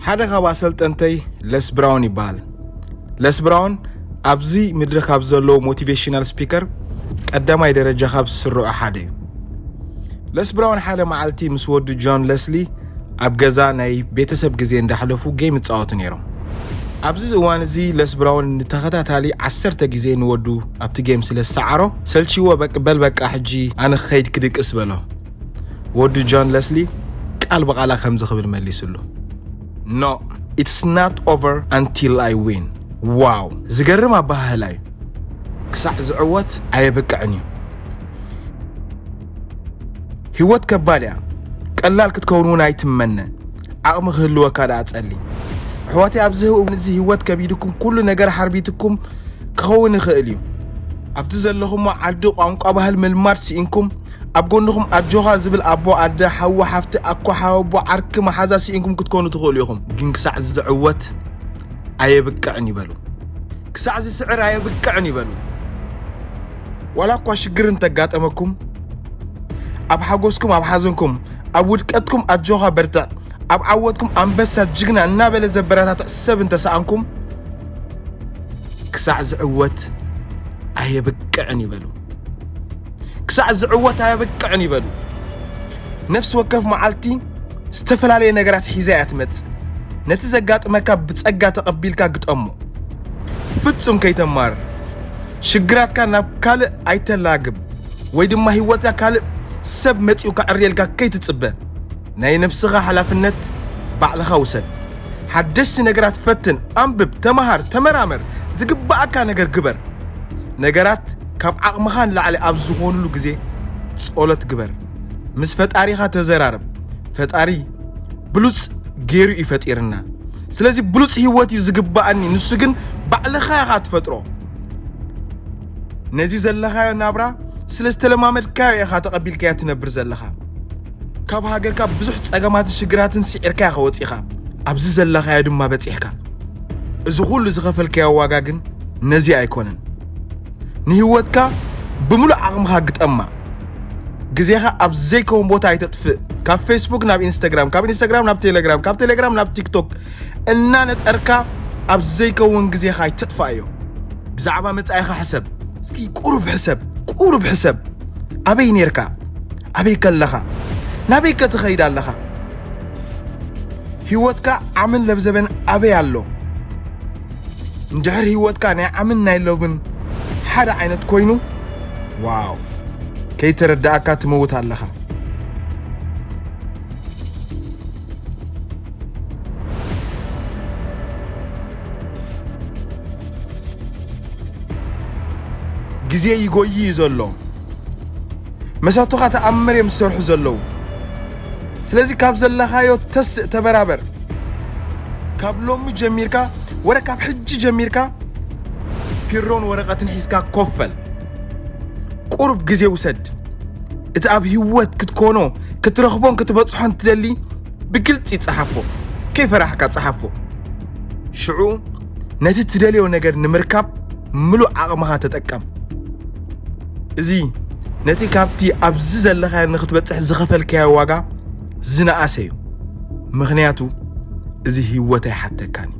ሓደ ካብ ኣሰልጠንተይ ለስ ብራውን ይበሃል ለስ ብራውን ኣብዚ ምድሪ ካብ ዘለዉ ሞቲቬሽናል ስፒከር ቀዳማይ ደረጃ ካብ ዝስርዑ ሓደ እዩ ለስ ብራውን ሓደ መዓልቲ ምስ ወዱ ጆን ለስሊ ኣብ ገዛ ናይ ቤተሰብ ግዜ እንዳሕለፉ ጌም ይፃወቱ ነይሮም ኣብዚ እዋን እዚ ለስ ብራውን ንተኸታታሊ ዓሰርተ ግዜ ንወዱ ኣብቲ ጌም ስለ ዝሰዓሮ ሰልቺዎ በል በቃ ሕጂ ኣነ ክኸይድ ክድቅስ በሎ ወዱ ጆን ለስሊ ቃል ብቓላ ከምዚ ክብል መሊስሉ No it's not over until I win ዋው ዝገርም ኣበሃህላ እዩ ክሳዕ ዝዕወት ኣየብቅዕን እዩ ህይወት ከባድ እያ ቀላል ክትከውን እውን ኣይትመነ ዓቕሚ ክህልወካ ደኣ ጸሊ ኣሕዋተይ ኣብዚ እውን እዚ ህይወት ከቢድኩም ኩሉ ነገር ሓርቢትኩም ክኸውን ይኽእል እዩ ኣብቲ ዘለኹሞ ዓዲ ቋንቋ ባህል ምልማድ ስኢንኩም ኣብ ጎንኹም ኣጆኻ ዝብል ኣቦ፣ ኣደ፣ ሓው፣ ሓፍቲ፣ ኣኮ፣ ሓወቦ፣ ዓርኪ፣ መሓዛ ስኢንኩም ክትኮኑ ትኽእሉ ኢኹም። ግን ክሳዕ ዝዕወት ኣየብቅዕን እዩ በሉ። ክሳዕ ዝስዕር ኣየብቅዕን እዩ በሉ። ዋላ እኳ ሽግር እንተጋጠመኩም ኣብ ሓጎስኩም ኣብ ሓዘንኩም ኣብ ውድቀትኩም ኣጆኻ በርትዕ ኣብ ዓወትኩም ኣንበሳ ጅግና እናበለ ዘበረታትዕ ሰብ እንተሰኣንኩም ክሳዕ ዝዕወት ኣየብቅዕን ይበሉ። ክሳዕ ዝዕወት ኣየብቅዕን ይበሉ። ነፍሲ ወከፍ መዓልቲ ዝተፈላለየ ነገራት ሒዛ እያ ትመጽእ። ነቲ ዘጋጥመካ ብጸጋ ተቐቢልካ ግጠሞ። ፍጹም ከይተማርር ሽግራትካ ናብ ካልእ ኣይተላግብ ወይ ድማ ህይወትካ ካልእ ሰብ መጺኡ ከዕርየልካ ከይትጽበ። ናይ ነብስኻ ሓላፍነት ባዕልኻ ውሰድ። ሓደሽቲ ነገራት ፈትን፣ ኣንብብ፣ ተመሃር፣ ተመራመር፣ ዝግበኣካ ነገር ግበር። ነገራት ካብ ዓቕምኻ ንላዕሊ ኣብ ዝኾኑሉ ግዜ ጸሎት ግበር። ምስ ፈጣሪኻ ተዘራረብ። ፈጣሪ ብሉጽ ገይሩ እዩ ፈጢርና። ስለዚ ብሉጽ ህይወት እዩ ዝግበኣኒ፣ ንሱ ግን ባዕልኻ ኢኻ ትፈጥሮ። ነዚ ዘለኻዮ ናብራ ስለ ዝተለማመድካዮ ኢኻ ተቐቢልካዮ ትነብር ዘለኻ። ካብ ሃገርካ ብዙሕ ጸገማትን ሽግራትን ስዒርካ ኢኻ ወጺኻ ኣብዚ ዘለኻዮ ድማ በጺሕካ እዚ ኹሉ ዝኸፈልካዮ ዋጋ ግን ነዚ ኣይኮነን ንህይወትካ ብምሉእ ዓቕምኻ ግጠማ ግዜኻ ኣብ ዘይከውን ቦታ ኣይተጥፍእ ካብ ፌስቡክ ናብ ኢንስታግራም ካብ ኢንስታግራም ናብ ቴሌግራም ካብ ቴሌግራም ናብ ቲክቶክ እናነጠርካ ኣብ ዘይከውን ግዜኻ ኣይተጥፋእዮ ብዛዕባ መጻኢኻ ሕሰብ እስኪ ቁሩብ ሕሰብ ቁሩብ ሕሰብ ኣበይ ነርካ ኣበይ ከለኻ ናበይ ከትኸይድ ኣለኻ? ህይወትካ ዓምን ለብዘበን ኣበይ ኣሎ? እንድሕር ህይወትካ ናይ ዓምን ናይ ሎብን ሓደ ዓይነት ኮይኑ ዋው ከይተረዳእካ ትመውት ኣለኻ። ግዜ ይጎይ እዩ ዘሎ። መሳቱኻ ተኣምር እዮም ዝሰርሑ ዘለዉ ስለዚ ካብ ዘለኻዮ ተስእ ተበራበር ካብ ሎሚ ጀሚርካ ወረ ካብ ሕጂ ጀሚርካ ፒሮን ወረቐትን ሒዝካ ኮፈል ቁሩብ ግዜ ውሰድ እቲ ኣብ ህይወት ክትኮኖ ክትረኽቦን ክትበጽሖን ትደሊ ብግልጺ ጸሓፎ ከይፈራሕካ ጸሓፎ ሽዑ ነቲ ትደልዮ ነገር ንምርካብ ምሉእ ዓቕምኻ ተጠቀም። እዚ ነቲ ካብቲ ኣብዚ ዘለኻዮ ንክትበጽሕ ዝኸፈልካዮ ዋጋ ዝነኣሰ እዩ፣ ምኽንያቱ እዚ ህይወት ኣይሓተካን እዩ።